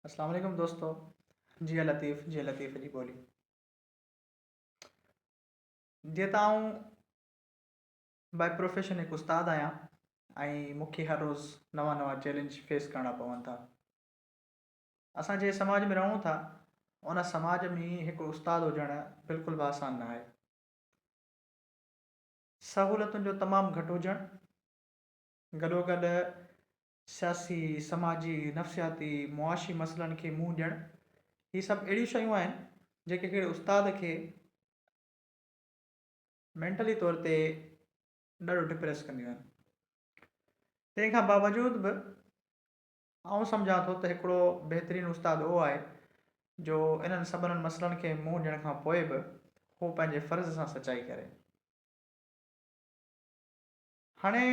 السلام عليڪم دوستو جيئي لطيف جيئي لطيف جي ٻولي جي ته آئون باء پروفيشن هڪ استاد آهيان ۽ مون کي هر روز نوان نوان چيلنج فيس ڪرڻا پون ٿا اسان جي سماج ۾ رهون ٿا ان سماج ۾ هڪ استاد هجڻ بلڪل به آسان نه آهي سهولتن جو تمام گهٽ هجڻ گڏوگڏ سياسي، سماجي، نفسياتي، معاشي مسئلن کي منهن ڏيڻ هي سڀ اهڙيون شيون آهن جيڪي ڪهڙي استاد کي مينٽلي طور تي ڏاڍو ڊپريس ڪنديون آهن. تنهن کان باوجود به آئون سمجهان ٿو ته هڪڙو بهترين استاد اهو آهي جو انهن سڀنن مسئلن کي منهن ڏيڻ کان پوء به هو پنهنجي فرض سان سچائي ڪري. هاڻي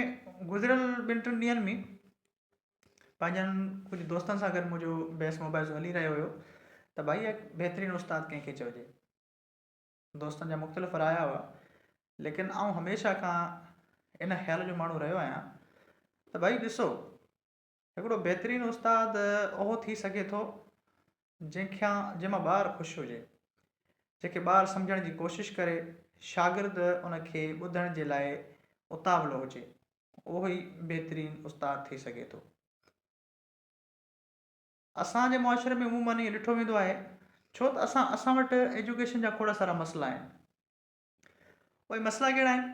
گذريل ٻن ٽن ڏينهن ۾ پنهنجن ڪجهه دوستن سان گڏ منهنجو بحث مباحثو هلي رهيو هيو ته ڀائي هڪ بهترين استاد ڪنهن کي چئجي. دوستن جا مختلف رايا هئا ليڪن آئون هميشه کان ان خيال جو ماڻهو رهيو آهيان ته ڀائي ڏسو هڪڙو بهترين استاد اهو ٿي سگهي ٿو جنهن کان جنهن مان ٻار خوش هجي، جنهن کي ٻار سمجهڻ جي ڪوشش ڪري، شاگرد ان کي ٻڌڻ جي لاء اتاولو هجي، اهو ئي بهترين استاد ٿي سگهي ٿو. اسان جي معاشري ۾ عموماً ائين ڏٺو ويندو آهي ڇو ته اسان اسان وٽ ايجوڪيشن جا کوڙا سارا مسئلا آهن. اهي مسئلا ڪهڙا آهن؟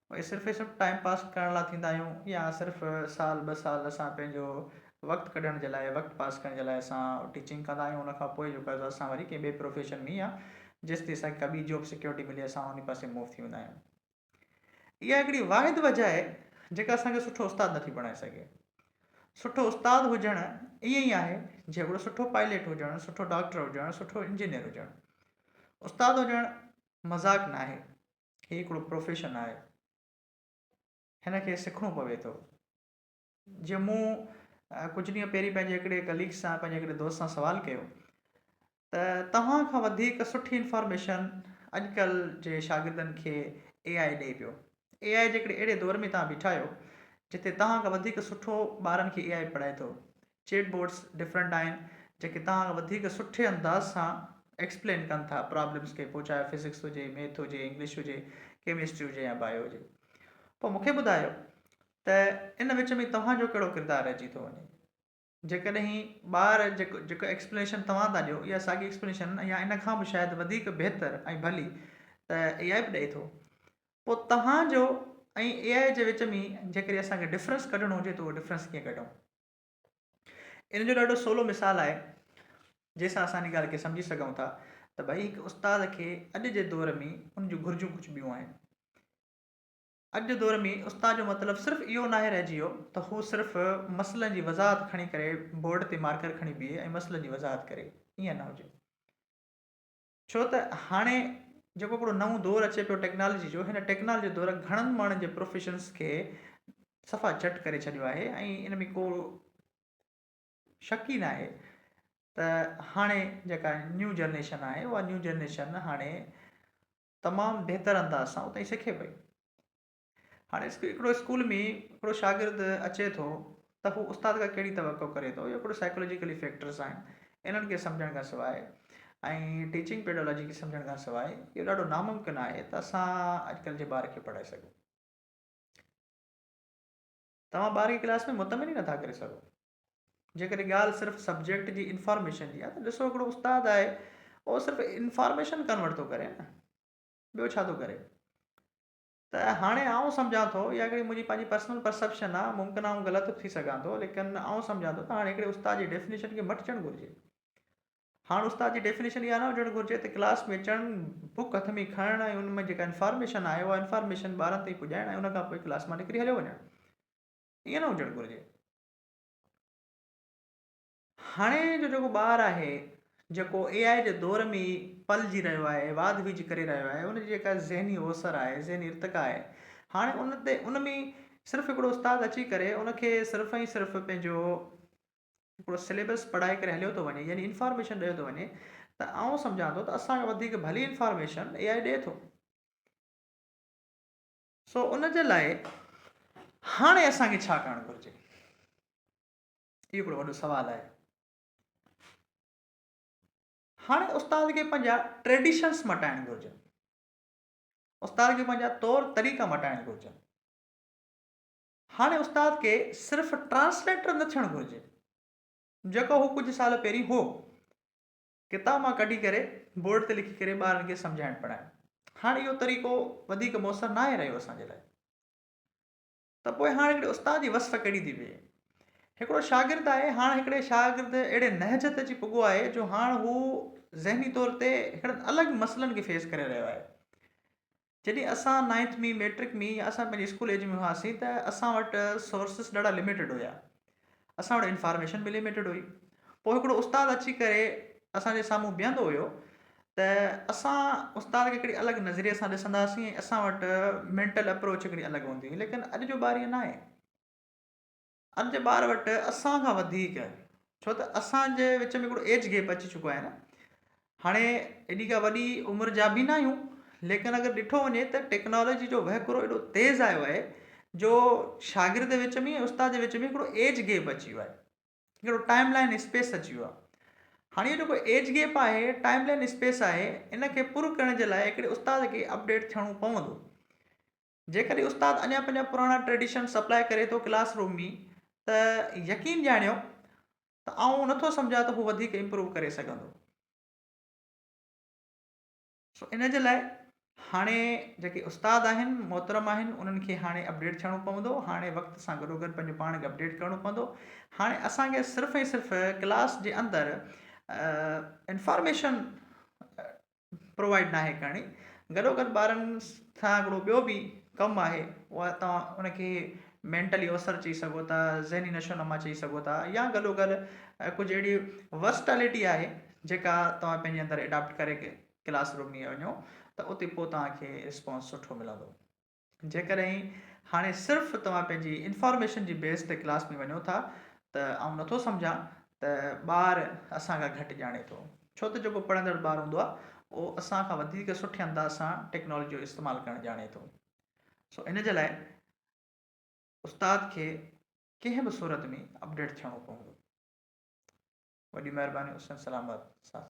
اهي صرف اهي سڀ ٽائيم پاس ڪرڻ لاء ٿيندا آهيون يا صرف سال ٻه سال اسان پنهنجو وقت ڪڍڻ جي لاء وقت پاس ڪرڻ جي لاء اسان ٽيچنگ ڪندا آهيون ان کان پوء جيڪو اسان وري ڪنهن ٻئي پروفيشن ۾ يا جيستائين اسان کي ڪا ٻي جاب سڪيورٽي ملي اسان انهي پاسي موو ٿي ويندا آهيون اها هڪڙي واحد وجه آهي جيڪا اسان کي سٺو استاد نٿي بڻائي سگهي سٺو استاد هجڻ ائين ئي آهي جهڙو سٺو پائليٽ هجڻ سٺو ڊاڪٽر هجڻ سٺو انجنيئر هجڻ استاد هجڻ مذاق ناهي هي هڪڙو پروفيشن آهي هن کي سکڻو پوي ٿو جي مون ڪجهه ڏينهن پهرين پنهنجي هڪڙي ڪليگ سان پنهنجي هڪڙي دوست سان سوال ڪيو ته توهان کان وڌيڪ سٺي انفارميشن اڄڪلهه جي شاگردن کي اي آء ڏئي پيو اي آء جي هڪڙي اهڙي دور ۾ توهان بيٺا آهيو جتي توهان کان وڌيڪ سٺو ٻارن کي اي آء پڙهائي ٿو چيٽ بوٽس ڊفرنٽ آهن جيڪي توهان کي وڌيڪ سٺي انداز سان ايڪسپلين ڪن ٿا پرابلمس کي پوء چاهي فزڪس هجي ميٿ هجي انگلش هجي ڪيمسٽري هجي يا بايو هجي پوء مونکي ٻڌايو ته ان وچ ۾ توهان جو ڪهڙو ڪردار رهجي ٿو وڃي جيڪڏهن ٻار جيڪو جيڪو ايڪسپليشن توهان ٿا ڏيو اها ساڳي ايڪسپليشن يا ان کان به شايد وڌيڪ بهتر ۽ ڀلي ته اي آء به ڏئي ٿو پوء توهان جو ۽ اي آء جي وچ ۾ جيڪڏهن اسان کي ڊفرنس ڪڍڻو هجي ته اهو ڊفرنس ڪيئن ڪڍون ان جو ڏاڍو سولو مثال آهي جنهن سان اسان ان ڳالهه کي سمجهي سگهون ٿا ته ڀئي هڪ استاد کي اڄ جي دور ۾ ان جون گهرجون ڪجهه ٻيون آهن اڄ جي دور ۾ استاد جو مطلب صرف اهو ناهي رهجي ويو ته هو صرف مسئلن جي وضاحت کڻي ڪري بورڊ تي مارڪر کڻي بيهي ۽ مسئلن جي وضاحت ڪري ائين نه هجي ڇو ته هاڻي جيڪو هڪڙو نئون دور اچي پيو ٽيڪنالوجي جو هن ٽيڪنالوجي دور گهڻن ماڻهن جي پروفيشنس کي صفا چٽ ڪري ڇڏيو آهي ۽ ان ۾ ڪو شڪ ئي ناهي ته هاڻي جيڪا نيو جنريشن آهي اها نيو جنريشن هاڻي تمام بهتر انداز سان اتائي سکي پئي هاڻي هڪڙو اسڪول ۾ هڪڙو شاگرد اچي ٿو ته هو استاد کان ڪهڙي توقع ڪري ٿو اهي هڪڙو سائيڪولوجيڪلي فيڪٽرس آهن انهن کي سمجهڻ کان سواء ۽ ٽيچنگ پيڊالاجي کي سمجهڻ کان سواء اهو ڏاڍو ناممڪن آهي ته اسان اڄڪلهه جي ٻار کي پڙهائي سگهون توهان ٻار کي ڪلاس ۾ مطمئن ئي نٿا ڪري سگهو جيڪڏهن ڳالهه صرف سبجيڪٽ جي انفارميشن جي آهي ته ڏسو هڪڙو استاد آهي اهو صرف انفارميشن ڪنورٽ ٿو ڪري نه ٻيو ڇا ٿو ڪري ته هاڻي آئون سمجهان ٿو، اها هڪڙي منهنجي پنهنجي پرسنل پرسيپشن آهي، ممڪن آئون غلط به ٿي سگهان ٿو، ليڪن آئون سمجهان ٿو ته هاڻي هڪڙي استاد جي ڊيفينيشن کي مٽجڻ گهرجي. هاڻ استاد جي ڊيفينيشن اها نه هجڻ گهرجي ته ڪلاس ۾ اچڻ، بوڪ هٿ ۾ کڻڻ ۽ ان ۾ جيڪا انفارميشن آهي، اها انفارميشن ٻارن تائين پڄائڻ ۽ ان کان پوء ڪلاس مان نڪري هليو وڃڻ. ائين نه هجڻ گهرجي. هاڻي جو جيڪو ٻار آهي جيڪو اي آء جي دور ۾ ئي پلجي رهيو آهي واڌ ويجهه ڪري رهيو آهي ان جي جيڪا ذهني اوسر آهي ذهني ارتقا آهي هاڻي ان تي ان ۾ صرف هڪڙو استاد اچي ڪري ان کي صرف ۽ صرف پنهنجو هڪڙو سليبس پڙهائي ڪري هليو ٿو وڃي يعني انفارميشن ڏيو ٿو وڃي ته آئون سمجهان ٿو ته اسان کان وڌيڪ ڀلي انفارميشن اي آء ڏي ٿو سو ان جي لاء هاڻي اسان کي ڇا ڪرڻ گهرجي اهو هڪڙو وڏو سوال آهي هاڻي استاد کي پنهنجا ٽريڊيشنس مٽائڻ گهرجن استاد کي پنهنجا طور طريقا مٽائڻ گهرجن هاڻي استاد کي صرف ٽرانسليٽر نه ٿيڻ گهرجي جيڪو هو ڪجهه سال پهرين هو ڪتاب مان ڪڍي ڪري بورڊ تي لکي ڪري ٻارن کي سمجهائڻ پڙهائڻ هاڻي اهو طريقو وڌيڪ مؤثر ناهي رهيو اسان جي لاء ته پوء هاڻ هڪڙي استاد جي وصف ڪهڙي ٿي ويهي. هڪڙو شاگرد آهي، هاڻ هڪڙي شاگرد اهڙي نهج تي اچي پڳو آهي جو هاڻ هو ذهني طور تي هڪڙن الڳ مسئلن کي فيس ڪري رهيو آهي. جڏهن اسان نائنٿ ۾ ميٽرڪ ۾ يا اسان پنهنجي اسڪول ايج ۾ هئاسين ته اسان وٽ سورسز ڏاڍا لميٽيڊ هيا. اسان وٽ انفارميشن به لميٽيڊ هئي. پوء هڪڙو استاد اچي ڪري اسان جي سامهون بيهندو هيو ته اسان استاد کي هڪڙي الڳ نظريي سان ڏسنداسين ۽ اسان وٽ مينٽل اپروچ هڪڙي الڳ هوندي هئي ليڪن اڄ جو ٻار ائين ناهي. اڄ جي ٻار وٽ اسان کان وڌيڪ ڇو ته اسان جي وچ ۾ هڪڙو ايج گيپ اچي چڪو آهي نه هاڻي ايڏي ڪا وڏي عمر جا به نه آهيون ليڪن اگر ڏٺو وڃي ته ٽيڪنالاجي جو وهڪرو ايڏو تيز آيو آهي جو شاگرد جي وچ ۾ ۽ استاد جي وچ ۾ هڪڙو ايج گيپ اچي ويو آهي هڪڙو ٽائيم لائين اسپيس اچي ويو آهي هاڻي اهو جيڪو ايج گيپ آهي ٽائيم لائين اسپيس آهي ان کي پر ڪرڻ جي لاء هڪڙي استاد کي اپڊيٽ ٿيڻو پوندو جيڪڏهن استاد اڃا پنهنجا پراڻا ٽريڊيشن سپلاء ڪري ٿو ڪلاس روم ۾ ته يقين ڄاڻيو ته آئون نٿو سمجهان ته هو وڌيڪ امپروو ڪري سگهندو. سو ان جي لاء هاڻي جيڪي استاد آهن محترم آهن انهن کي هاڻي اپڊيٽ ٿيڻو پوندو هاڻي وقت سان گڏوگڏ پنهنجو پاڻ کي اپڊيٽ ڪرڻو پوندو هاڻي اسان کي صرف ۽ صرف ڪلاس جي اندر انفارميشن پرووائيڊ ناهي ڪرڻي گڏوگڏ ٻارن سان هڪڙو ٻيو به ڪم آهي اها توهان ان کي مينٽلي اوسر چئي سگهو ٿا ذهني نشو نما چئي سگهو ٿا يا گڏوگڏ ڪجهه اهڙي ورسٽالٽي آهي جيڪا توهان پنهنجي اندر اڊاپٽ ڪري ڪلاس روم ۾ وڃو ته اتي پوء توهان کي رسپانس سٺو ملندو جيڪڏهن هاڻي صرف توهان پنهنجي انفارميشن جي بيس تي ڪلاس ۾ وڃو ٿا ته آئون نٿو سمجهان ته ٻار اسان کان گهٽ ڄاڻي ٿو ڇو ته جيڪو پڙهندڙ ٻار هوندو آهي اهو اسان کان وڌيڪ سٺي انداز سان ٽيڪنالاجي جو استعمال ڪرڻ ڄاڻي ٿو سو ان جي لاء استاد کي ڪنهن به صورت ۾ اپڊيٽ ٿيڻو پوندو وڏي مهرباني حسين سلامت سان